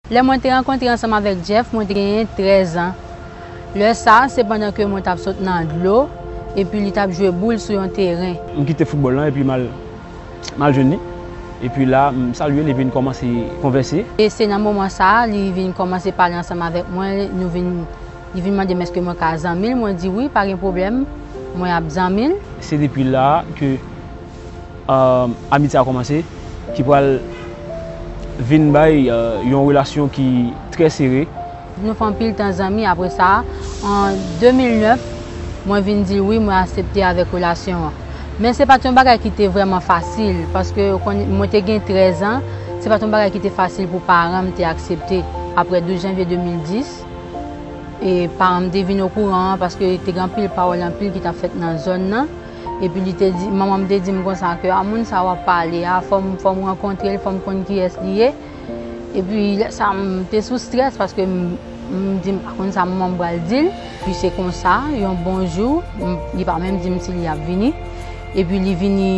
Lè mwen te rankontre ansanm avèk Jeff, mwen te genyen trèzan. Lè sa a, se pandan ke mwen t ap sot nan dlo, epi li t ap jwe boul sou yon teren. M kite foutbòl lan epi m al m al jwenn li. Epi la, m salye l epi n kòmanse konvèse. E se nan moman sa a, li vin kòmanse pale ansanm avèk mwen, nou vin, li vin mande m èske mwen ka zanmi l, mwen di wi, pa gen pwoblèm, mwen ap zanmi l. Se depi la a ke. Amitye a kòmanse, ki pral vin bay yon relasyon ki trè sere. Nou fè anpil tan zanmi apre sa. An 2009, mwen vin di l wi, mwen asepte avèk relasyon an. Men se pa t yon bagay ki te vrèman fasil, paske ou konn, mwen te gen 13 an, se pa t yon bagay ki te fasil pou paran m te aksepte. Apre 12 janvye 2010, paran m te vin okouran, paske te gen anpil pawòl anpil ki t ap fèt nan zòn nan. Epi li te di, manman m te di m konsa ke a moun sa w ap pale a, fò m fò m rankontre l, fò m konn kiyès li ye. Epi lè sa m te sou strès paske m m di m pa konn sa manman m pral di l. Epi se konsa, yon bon jou, m li pa menm di m si li ap vini. Epi li vini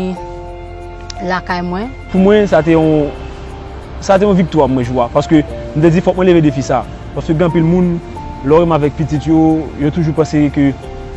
lakay mwen. Pou mwen, sa te yon sa te yon viktwa pou mwen jou a. Paske m te di fòk mwen leve defi sa. Paske gen anpil moun, lè w renmen avèk pitit yo, yo toujou panse ke.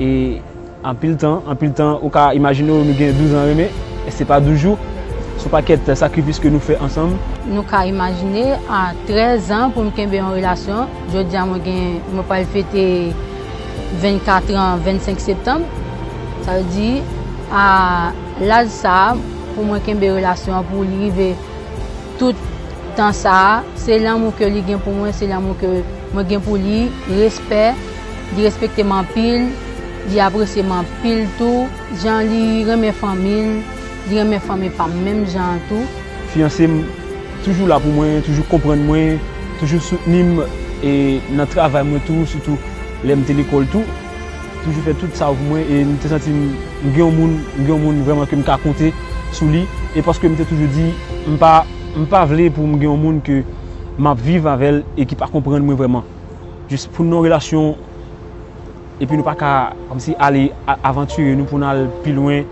E anpil tan, anpil tan, ou ka imajine w nou gen douz an renmen, e se pa douz jou, se yon pakèt sakrifis ke nou fè ansanm. Nou ka imajine, a trèz an pou m kenbe yon relasyon, jodi a mwen gen, mwen pral fete vennkatr an vennsenk septanm, sa vle di a laj sa a pou mwen kenbe relasyon an pou li rive tout tan sa a, se lanmou ke li gen pou mwen, se lanmou ke. Mwen gen pou li respè, li respekte m anpil, li apresye m anpil tou, jan li renmen fanmi l, li renmen fanmi pa m menm jan an tou. Fiyanse m toujou la pou mwen, toujou konprann mwen, toujou soutni m e nan travay mwen tou, sitou lè m te lekòl tou, toujou fè tout sa yo pou mwen e m te santi m gen yon moun, m gen yon moun vrèman ke m ka konte sou li e paske m te toujou di m pa, m pa vle pou m gen yon moun ke. map viv avèl e ki pa konprann mwen vrèman jis poun nan relasyon epi nou paka kòmsi ale avanture nou poun al pi lwen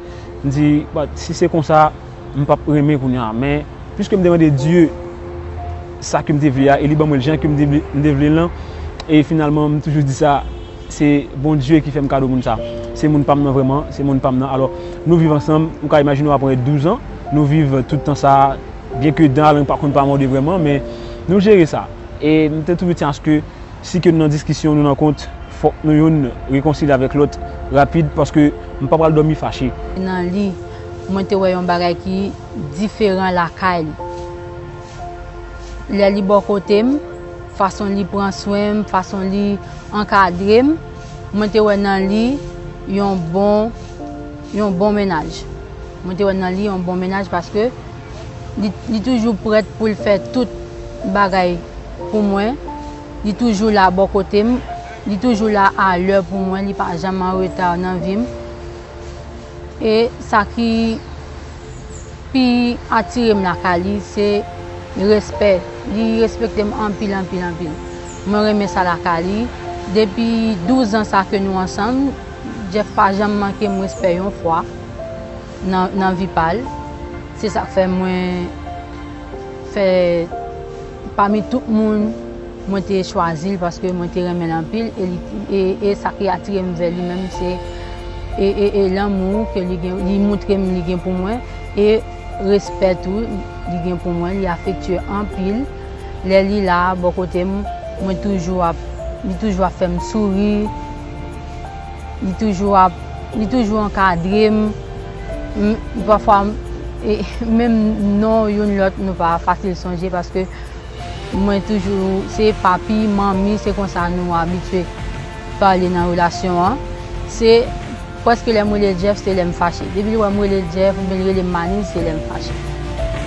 m di si se konsa m pap renmen kounya men pwiske m te mande Dye sa kem te vle a e li ban mwen l jan kem te vle l lan e finalman m toujou di sa se Bondye ki fèm kado moun sa se moun pam nan vrèman se moun pam nan alò nou viv ansanm ou ka imajine aprè 12 an nou viv tout tan sa. Byen ke dan alang pa konn pa mòde vrèman men nou jere sa. E m te toujou tyanse ke si ke nou nan diskisyon, nou nan kont, fòk nou youn rekonsilye avèk lòt rapid paske m pa pral dòmi fache. Nan li, mwen te wè yon bagay ki diferan lakay li. Lè li bò kote m, fason li pran swen m, fason li ankadre m, mwen te wè nan li yon bon, yon bon mennaj. Mwen te wè nan li yon bon mennaj paske. Li toujou prèt pou l fè tout bagay pou mwen. Li toujou la bò kote m. Li toujou la a lè pou mwen. Li pa janm an reta nan vi m. E sa ki pi atire m lakay li, se respè. Li respekte m anpil, anpil, anpil. Mwen renmen sa lakay li. Depi douzan sa ke nou ansanm, Jeff pa janm manke m respè yon fwa. nan vi pa l, se sak fè mwen fè pami tout moun mwen te chwazi l paske mwen te renmen l anpil e sa ki atire m vè li menm se e lanmou ke li gen li moutre m li gen pou mwen e respè tou li gen pou mwen li afektye anpil lè li la bò kote m mwen toujou ap li toujou ap fè m souri. Li toujou ap, li toujou ankadre m. Pafwa menm non youn lòt nou pa fasil sonje paske mwen toujou se papi, manmi, se konsa nou abitye pale nan relasyon an. Se pwèske lè m rele l Jeff se lè m fache. Depi l wè m rele l Jeff oubyen l rele m Manil se lè m fache.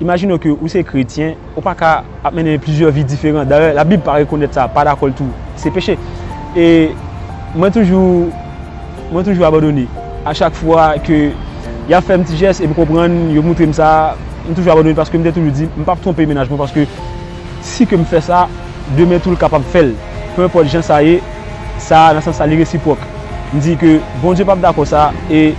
Imajine w ke ou se kretyen, ou pa ka ap mennen plizyè vi diferan. Dayè, Labib pa rekonèt sa, pa dakò l tou. Se peche. E mwen toujou, mwen toujou abandone. A chak fwa ke y ap fè m ti jès e m konprann, yo moutre m sa, m toujou abandone paske m te toujou di, m p ap twonpe mennaj mwen paske si ke m fè sa, demen tou l kapab fè l. Pe enpòt jan sa ye, sa, nan sans sa, li resipwòk. M di ke Bondye p ap dakò sa e.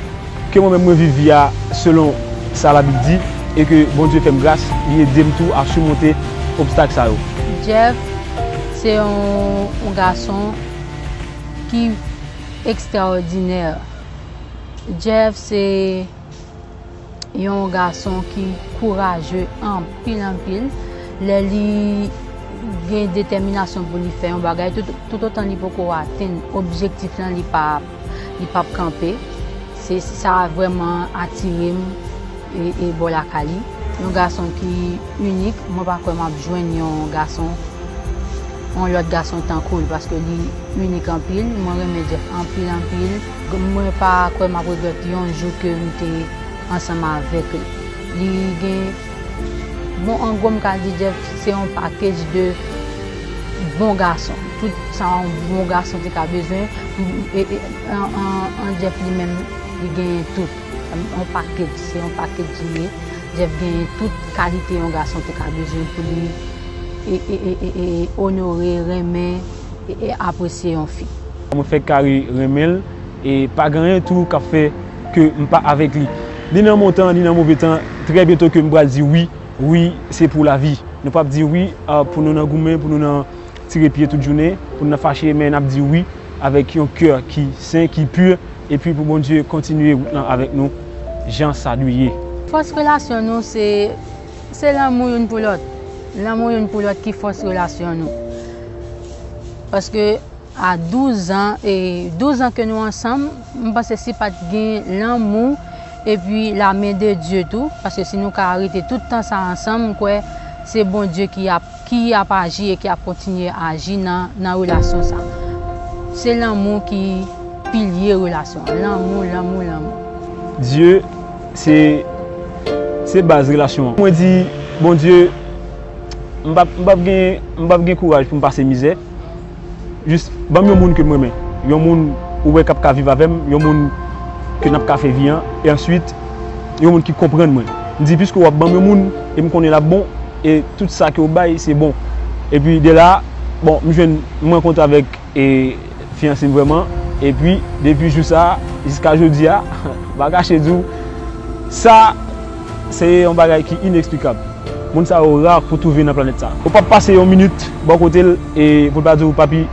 Ke mwen menm mwen viv vi a selon sa labib di e ke Bondye fèm gras li edem tou a surmonte obstak sa yo. Jeff se yon gason ki extraordinaire Jeff se yon gason ki kouraje anpil anpil lè li gen deteminasyon pou li fè yon bagay tout otan li poko atenn objektif lan li pa Li pap kanpe. Se sa vrèman atire m e bò lakay li. Yon gason ki inik. Mwen pa kwè m ap jwenn yon gason, yon lòt gason tankou l. Paske li inik anpil. Mwen renmen Jeff anpil anpil. Mwen pa kwè m ap regrèt yon jou ke m te ansanm avèk li. Li gen. Bon an gwo m ka di Jeff se yon package de bon gason. Tout sa yon bon gason te ka bezwen an Jeff li menm li genyen tout. Yon package, se yon package li ye. Jeff genyen tout kalite yon gason te ka bezwen pou li onore, renmen e apresye yon fi. Mwen fèk ka renmen l e pa gen anyen tou kap fè. ke m pa avèk li. Ni nan mon tan, ni nan move tan, trè byento ke m pral di wi, wi se pou lavi. Nou pap di wi pou nou nan goumen, pou nou nan tire pye tout jounen, pou nou nan fache, men nap di wi avèk yon kè ki sen, ki pur, epi pou Bondye kontinye wout lan avèk nou jan sa dwe ye. Fòs relasyon nou se, se lanmou youn pou lòt. Lanmou youn pou lòt ki fòs relasyon nou. Paske. A 12 zan, 12 zan ke nou ansanm, m panse si pa t gen lanmou epi la men de Dye tou, paske si nou ka rete tout tan sa ansanm, m kwè se Bondye ki ap, ki ap aji e ki ap kontinye aji nan, nan relasyon sa. Se lanmou ki pilye relasyon an. Lanmou, lanmou, lanmou. Dye se, se baz relasyon an. Mwen di, Bondye, m pa, m pa p gen, m pa p gen kouraj pou m pase mizè. Jis banm yon moun ke m renmen. Yon moun ou wè k ap ka viv avè m, yon moun ke n ap ka fè vi an. E answit, yon moun ki konprann mwen. M di, piske w ap banm yon moun, e m konnen l ap bon, e tout sa ke w bay, se bon. Epi de la, bon, m jwenn, m rankontre avèk e fiyanse m vrèman. Epi, depi jou sa a, jiska jodi a, m pa kache di w, sa. Se yon bagay ki ineksplikab. Moun sa yo rar pou twouve nan planèt sa. Ou pap pase yon minit bò kote l e pou l pa di w papi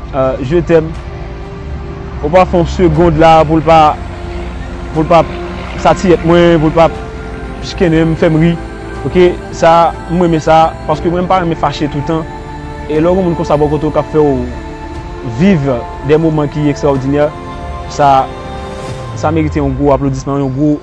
je t'aime. Ou pa fè yon segond la pou l pa pou l pa satiyèt mwen, pou l pa chkennen m, fè m ri. Ok sa m renmen sa paske mwen m pa renmen fache toutan e lè w gen moun konsa bò kote w k ap fè w viv de moman ki ekstraòdinè sa sa merite yon gwo aplodisman, yon gwo.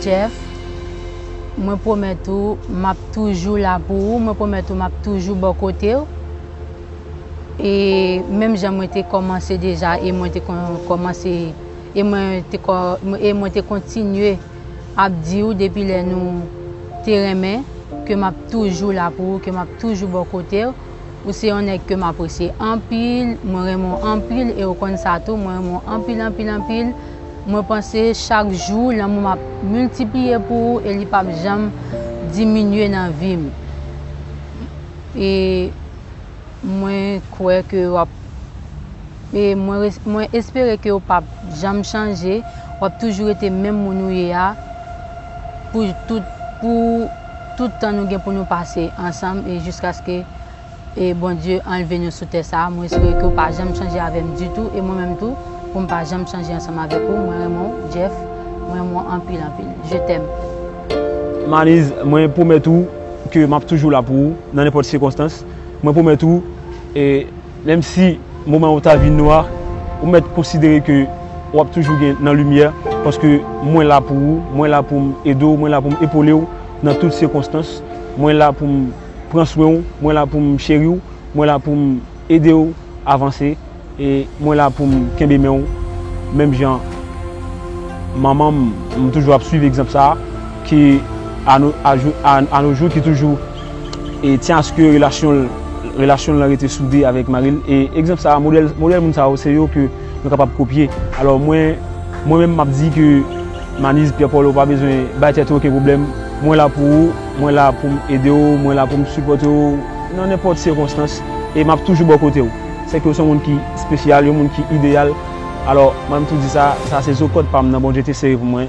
Jeff Mwen pwomèt ou m ap toujou la pou ou, mwen pwomèt ou m ap toujou bò kote ou e menm jan mwen te kòmanse deja e mwen te kòmanse e mwen te kontinye ap di ou depi lè nou te renmen ke m ap toujou la pou ou, ke m ap toujou bò kote ou. Ou se yon nèg kem apresye anpil, mwen renmen w anpil e ou konn sa tou, mwen renmen w anpil anpil anpil, mwen panse chak jou lanmou m ap miltipliye pou ou e li pap janm diminye nan vi m e mwen kwè ke w ap e mwen espere ke w pap janm chanje w ap toujou rete menm moun ou ye a pou tout pou tout tan nou gen pou nou pase ansanm e jiskaske e Bondye anlve nou sou tè sa a, mwen espere ke ou pa janm chanje avè m ditou e mwen menm tou pou m pa janm chanje ansanm avèk ou, mwen renmen w Jeff, mwen renmen w anpil anpil. Je t'aime. Maniz, mwen pwomèt ou ke m ap toujou la pou ou nan nenpòt sikonstans, mwen pwomèt ou e. Menm si moman yo ta vin nwa, ou mèt konsidere ke w ap toujou gen nan limyè, paske mwen la pou ou, mwen la pou m ede w, mwen la pou m epole w nan tout sikonstans, mwen la pou m pran swen w, mwen la pou m cheri w, mwen la pou m ede w avanse, e mwen la pou m kenbe men w menm jan manman m, m toujou ap swiv egzanp sa a, ki a no jou ki toujou. E tyen aske relasyon l, relasyon l lan rete soude avèk mari l. E egzanp sa a, modèl, modèl moun sa yo, se yo ke nou kapab kopye. Alò mwen, mwen menm m ap di ke Manizh Pierre Paul ou pa bezwen bay tèt ou oken pwoblèm, mwen la pou ou, mwen la pou m ede w, mwen la pou m sipòte w nan nenpòt sikonstans e m ap toujou bò kote w. Sèke ou se yon moun ki spesyal, yon moun ki ideyal. Alò mwen m tou di sa, sa se zo kòd pa m nan Bondye te sere pou mwen.